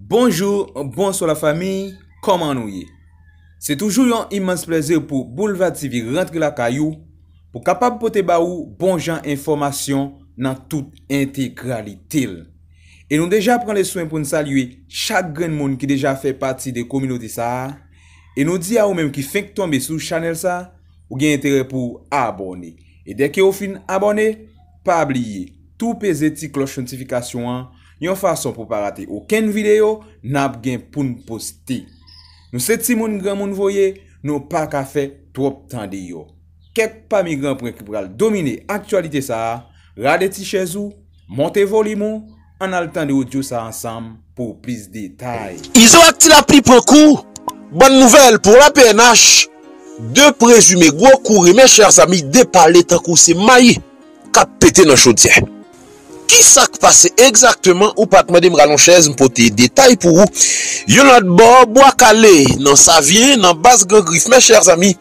Bonjou, bonswa la famiy, kòman nou ye? Se toujou yon imans plèzi pou Boulva TV rantre lakay ou pou kapab pote ba ou bon jan enfòmasyon nan tout entegralite l. E nou deja pran le swen pou n salye chak grenn moun ki deja fè pati de kominote sa a, e nou di a ou menm ki fenk tonbe sou chanèl sa, ou gen enterè pou ou abòne. E dèke ou fin abòne, pa bliye tou peze ti klòch notifikasyon an Yon fason pou pa rate okenn video nap gen poun poste. Nou se timoun granmoun voye nou paka fè twòp tande yo. Kèk pami gran pren ki pral domine aktyalite sa, rale ti chèz ou, monte volim ou, ann al tande odyo sa ansanm pou plis detay. Izo ak Ti Lapli pran kou, bòn nouvèl pou la pnh, 2 prezime gwo kou rimè chèr zanmi depale tankou se mayi. kap pete nan chodyè. Kisak pase egzakteman ou pat mandem ralon chèz m pote detay pou ou yon lòt bò bwa kale nan savyen nan baz gran grif mes chers amis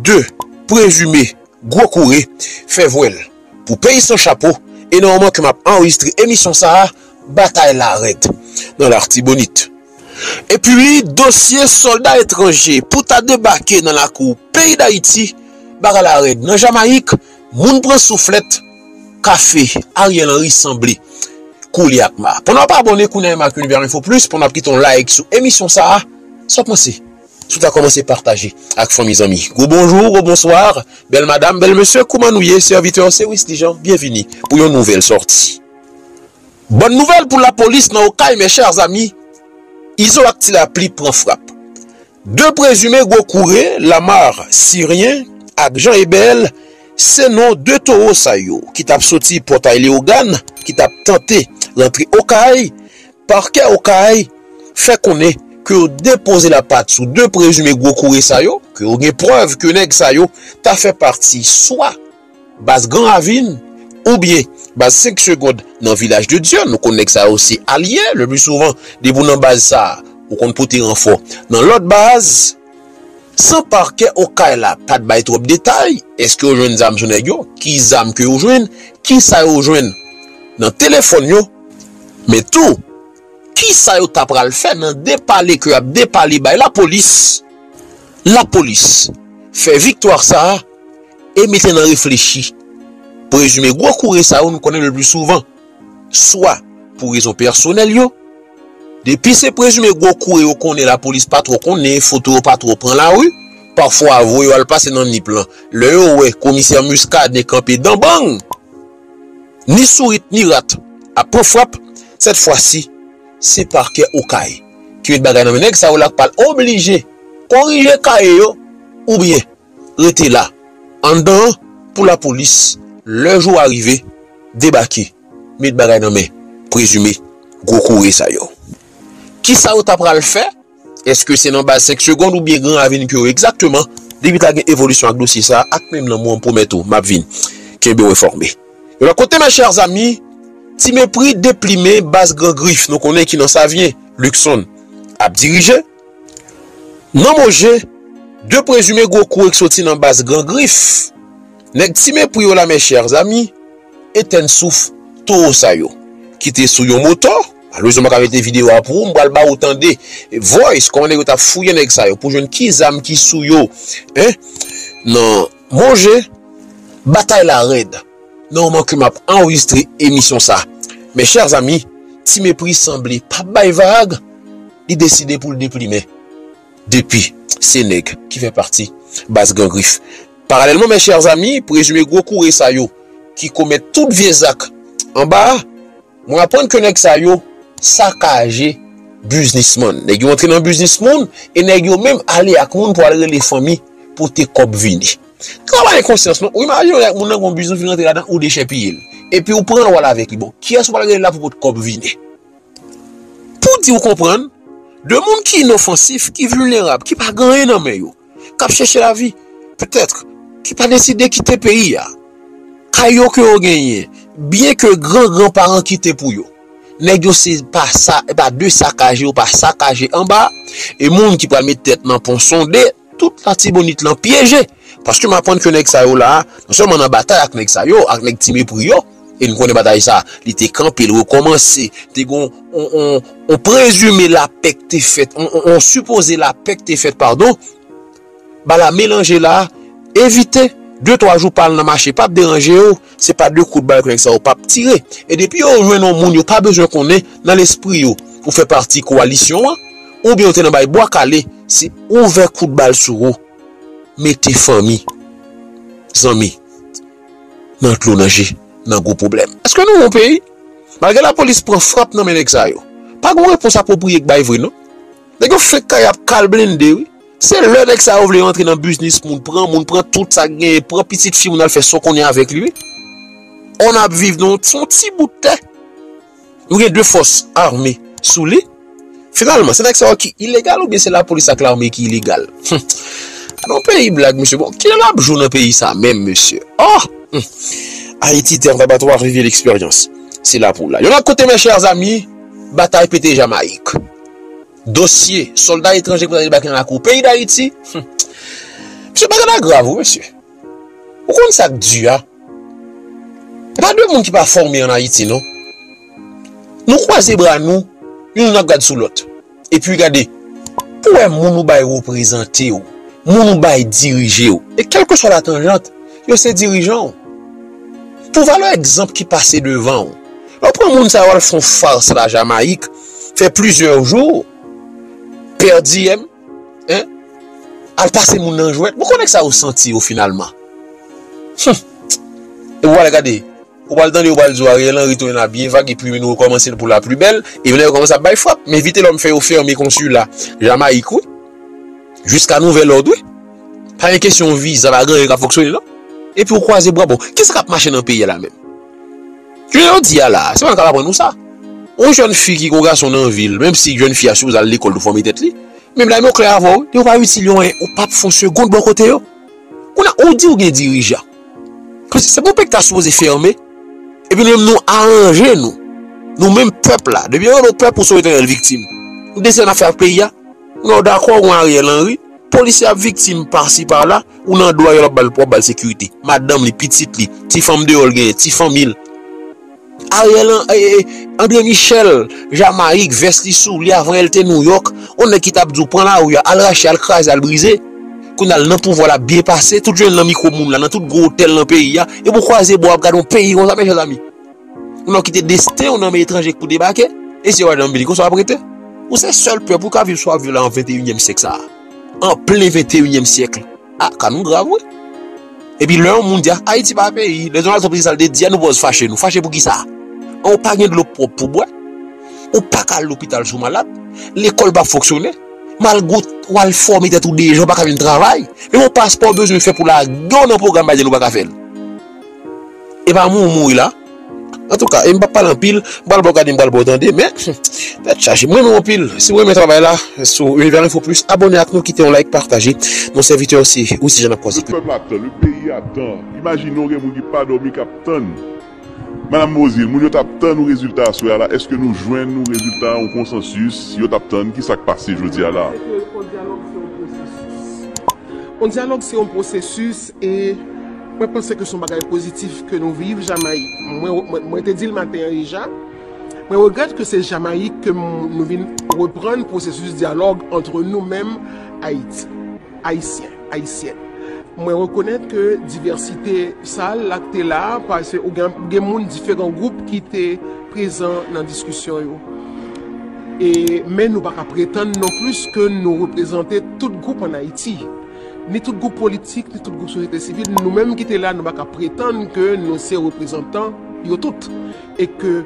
2 prezime gwo koure fè vwèl pou peyi san chapo e nan moman ke map anrejistre emisyon sa batay la rèd nan lartibonit epi dosye solda etranje pou ta debake nan lakou peyi dayiti bagay la rèd nan jamayik Moun pran souflèt kafe Ariel Henry sanble kou li ak ma. Pandan wap abòne kounye a menm ak Univers Info Plus, pandan wap kite yon like sou emisyon sa, sa wap panse si w ta kòmanse pataje ak fanmi zanmi. Gwo bonjou, gwo bonswa, bèl madam, bèl mesye kouman nou ye, sèvitè se Wisly Jean, byenvini pou yon nouvèl sòti. Bòn nouvèl pou lapolis nan Okay mes chers amis, Izo ak Tilapli pran frap. De prezime gwo koure, Lamar, Siryen, ak Jean Ebel, se non de towo sa yo ki t ap soti Pòtay Leyogàn ki t ap tante rantre Okay. Pakè Okay fè konnen ke yo depoze lapat sou de prezime gwo koure sa yo, ke yo gen prèv ke nèg sa yo ta fè pati swa. Baz Gran Ravin oubyen baz 5 segond nan Vilaj de Dye, nou konn nèg sa yo se alye, le pli souvan depi w nan baz sa ou konn pote ranfò nan lòt baz. San Pakè Okay la pa t bay twòp detay, èske yo jwenn zam sou nèg yo, ki zam ke yo jwenn, kisa yo jwenn nan telefòn yo, men tou kisa yo ta pral fè nan depale ke yo ap depale bay Lapolis, Lapolis fè viktwa sa. e mete nan reflechi pou rezime gwo kouri sa yo nou konnen lepli souvan swa pou rezon pèsonèl yo, depi se prezime gwo kouri yo konnen lapolis pa twò konnen, foto yo pa twò pran lari, pafwa voye yo al pase nan Nip lan, lè yo wè komisè Muscadin kanpe dan bang, ni sourit ni rat ap pran frap, sèt fwa si se Pakè Okay ki met bagay nan men nèg sa yo la k pral oblije korije kaye yo oubyen. rete la anndan an pou lapolis lè jou a rive debake met bagay nan men prezime gwo koure sa yo. Kisa yo ta pral fè? Eske se nan baz 5 segond oubyen gran ravin ke yo egzakteman? Depi ta gen evolisyon ak dosye sa ak menm lanmou an m pwomèt ou map vin kenbe ou enfòme. Yon lòt kote mes chers amis ti mepri deplimen baz gran grif nou konnen ki nan Savyen Luckson ap dirije. Nan Moje, 2 prezime gwo kou ek soti nan baz Gran Grif. Nèg ti mepri yo la mes chers amis, etèn souf towo sa yo ki te sou yon moto, malerezman mpa ka mete video a pou ou, mpral ba ou tande voice kòman nèg yo tap fouye nèg sa yo pou jwenn ki zam ki sou yo nan. Mon je, batay la rèd nan moman ke map anrejistre emisyon sa. Mes chers amis, Ti Mepri sanble pap bay vag, li deside pou l deplimen. Depi, se nèg ki fè pati baz Gran Grif. Paralèlman mes chers amis, prezime gwo koure sa yo ki komèt tout vye zak anba a, Mwen aprann ke nèg sa yo sakaje biznisman. Nèg yo antre nan biznis moun e nèg yo menm ale ak moun pou al rele fanmi pote kòb vini. Sa pa gen konsyans non. Ou imajine ou ak moun nan gen yon biznis ou fin rantre ladan ou dechèpiye l. Epi ou pran l wal avèk li. Bon, kiyès ou pral rele la pou pot kòb vini? Pou di ou konprann, 2 moun ki inofansif, ki vilnerab, ki pa gen anyen nan men yo. k ap chèche lavi, petèt, ki pa deside kite peyi a, kay yo ke yo genyen, byen ke gran gran paran kite pou yo. Nèg yo se pa sa, e pa de sakaje yo pa sakaje anba, e moun ki pral met tèt nan pon sonde, tout latibonit lan pyeje. Paske m aprann ke nèg sa yo la, non sèlman nan batay ak nèg sa yo, ak nèg ti mepri yo, E n konnen batay sa a, li te kanpe, li rekòmanse. Te gen yon prezime lapè k te fèt, yon sipoze lapè k te fèt padon. Bala melanje la a, evite. De twa jou pa al nan mache pa p deranje yo. Se pa de kout bal ke nèg sa yo pa p tire. E depi yo jwenn yon moun yo pa bezwen konnen nan lespri yo ou fè pati kowalisyon an oubyen ou te nan bay bwa kale, se ouvè kout bal sou ou. Mete fanmi, zanmi. Nan dlo nan je nan gwo pwoblèm. Eske nou yon peyi? Malgre lapolis pran frap nan men nèg sa yo, pa gon repons apwopriye k bay vre non. Nèg yo fenk kay ap kal blende wi. Se lè nèg sa yo vle rantre nan biznis moun, pran moun, pran tout sa k genyen, pran pitit fi moun al fè so konnen avèk li wi. Ò n ap viv nan yon ti bout tè. Nou gen 2 fòs ame sou li. Finalman, se nèg sa yo ki ilegal oubyen se lapolis ak lame ki ilegal? Humm! Anon peyi blag mesye. Bon, kilè n ap jou nan peyi sa menm mesye? Oh! Humm! Ayiti, tè andabatwa, vive leksperyans. Se la pou la. Yon lòt kote mes chers amis, batay pete Jamayik. Dosye sòlda etranje ki pral debake nan lakou peyi Dayiti. Humm! Mesye, bagay la grav wi mesye. Ou konn sak du a? Pa de moun ki pa fòme an Ayiti non. Nou kwaze bra nou, youn ap gad sou lòt. Epi gade, ou wè moun ou bay reprezante ou, moun ou bay dirije ou, e kèlkeswa latanjant, yo se dirijan ou. Pou valè egzanp ki pase devan ou, lè ou pran moun sa yo al fon fars la Jamayik, fè plizyè jou, pèdi. Hein? Al pase moun nan jwèt? Bon konnen kisa yo santi yo finalman? Humm! Epi w'al gade, ou pral tande yo pral di w Ariel Henry tounen la byen vag epi nou rekòmanse l pou la pli bèl, epi la yo kòmanse ap bay frap, men Vitelòm fè yo fèmen konsila Jamayik wi, jiska nouvèl òd wi. Pa gen kesyon viza, pa gen anyen k'ap fonksyone non. Epi ou kwaze bra, bon kisa k'ap mache nan peyi a la menm? Jounen jodi a la, se pa nou k ap aprann nou sa. Yon jèn fi ki gen yon gason nan vi l, menm si jèn fi a sipoze al lekòl pou fòme tèt li, menm la m yo klè avè w, yo pa itil yo anyen, ou p ap fè yon segond bò kote yo. Kounye a, ou di ou gen dirijan. Paske se pou peyi k ta sipoze fèmen, epi nou menm nou aranje nou, nou menm pèp la, depi yo rele w pèp ou sou etenèl viktim. Ou gen desi sa n ap fè ak peyi a? Lè w dakò ou Ariel Henry, polisye ap viktim pasi pala, ou nan dwa yo, wap bal sekirite. Madanm li, pitit li, ti fanm deyò l genyen, ti fanmi l. Ariel Andre Michel, Jamayik, vès li sou li avan yè l te Nouyòk, on nèg ki tap di w pran lari a, al rache, al kraze, al brize. Kounya l nan pouvwa lap byen pase, tout jounen l nan mikwo moun la, nan tout gwo otèl nan peyi a, epi w kwaze bò wap gade on peyi konsa men chèzami. Ou nan kite desten ou nan men etranje pou debake, e si yo wè nan bini konsa wap rete? Ou se sèl pèp ou ka viv swa viv la an 21 nyèm syèk sa a. An plen 21 nyèm syèkl. A, ka nou grav wi. E pi lè yon moun di a, Ayiti pa peyi, lè Donald Trump di sal te di a nou pòz fache nou. Fache pou kisa? An ou pa gen dlo pwòp pou bwè? Ou pa ka al lopital si w malad? Lekòl pa fonksyone? Malgre ou, ou al fòme tèt ou deja ou pa ka vin travay? Menm yon paspò ou bezwen fè pou lage w nan pwogram Biden ou pa ka fè l. Epa mwen ou mouri la Antouka em pap pale anpil m pral baw gade m pral baw tande men tèt chaje m renmen w anpil si w renmen travay la sou univers info plus abone ak nou kite yon like pataje nou sèvitè w se Wisly Jean nap kwaze plis. Le peuple attend, le pays attend, imagine ou gen moun ki pa domi kap tann Madame Beauzile, moun yo tap tann ou rezilta aswè a la eske nou jwenn ou rezilta ou konsansis yo tap tann kisak pase jodi a la? On dyalòg se on pwosesis e mwen panse ke son bagay pozitif ke nou viv Jamayik. Mwen te dil maten an deja, mwen regrèt ke se Jamayik ke nou vin reprann pwosesis dyalòg antre nou menm Ayiti, Ayisyen, Ayisyèn. Mwen rekonèt ke divèsite sa la ki te la, pase ou gen moun diferan gwoup ki te. prezan nan diskisyon yo e men nou pa ka pretann non plis ke nou reprezante tout gwoup an Ayiti, ni tout gwoup politik, ni tout gwoup sosyete sivil, nou menm ki te la nou pa ka pretann ke nou se reprezantan yo tout e ke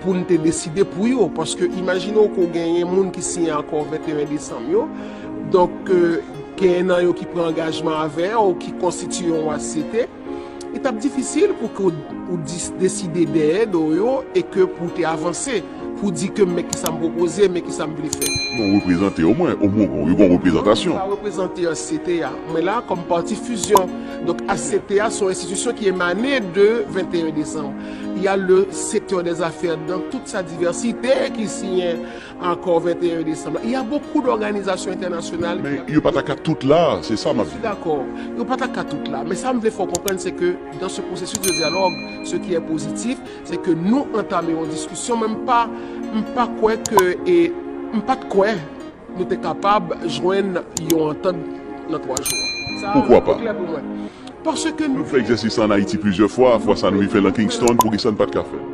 pou n te deside pou yo paske imajine w ke w genyen moun ki siyen akò 21 desanm yo donk genyen nan yo ki pran angajman avè w ki konstitiye yon asyete. Li t ap difisil pou ke w deside dèyè do yo e ke pou w te avanse pou w di ke men kisa m pwopoze, men kisa m vle fè. Yon reprezante omwen, omwen ou gen yon reprezantasyon. Sa reprezante HCT a. Mwen la kòm pati fizyon. Donk HCT a se yon enstitisyon ki emane de 21 desanm. Ya le sektè dè zafè dan tout sa divèsite ki siyen Akò 21 desanm la. Y a bokou dòganizasyon entènasyonal. Men yo pa ta ka tout la, se sa m ap di. Mwen dakò. Yo pa ta ka tout la. Men sa m vle fè w konprann se ke dan se pwosesis de dyalòg, se ki è pozitif, se ke nou antame yon diskisyon men m pa m pa kwè ke e m pa t kwè nou te kapab jwenn yon antant nan 3 jou a. Sa a te klè pou mwen. Paske nou. Nou fè egzèsis sa an Ayiti plizyè fwa. Fwa sa a nou rive fè l nan Kingston. Pou ki sa n pa t ka fè l?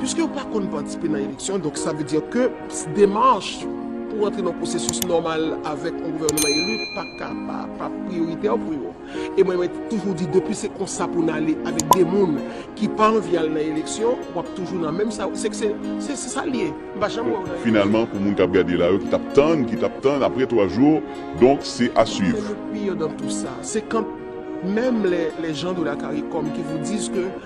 Piske yo pa konn patisipe nan eleksyon, donk sa vle di ke demach pou rantre nan pwosesis nòmal avèk yon gouvènman eli pa ka pa priyoritè pou yo. E mwen mwen toujou di depi se konsa pou n ale avèk de moun ki pa anvi al nan eleksyon, w ap toujou nan menm sa, se se sa l ye. M pa janm wè w nan eleksyon. Finalman pou moun k ap gade la yo ki t ap tann, ki t ap tann apre 3 jou, donk se a swiv. Se le pire dans tout sa, se quand menm les gens de la caricom qui vous disent que.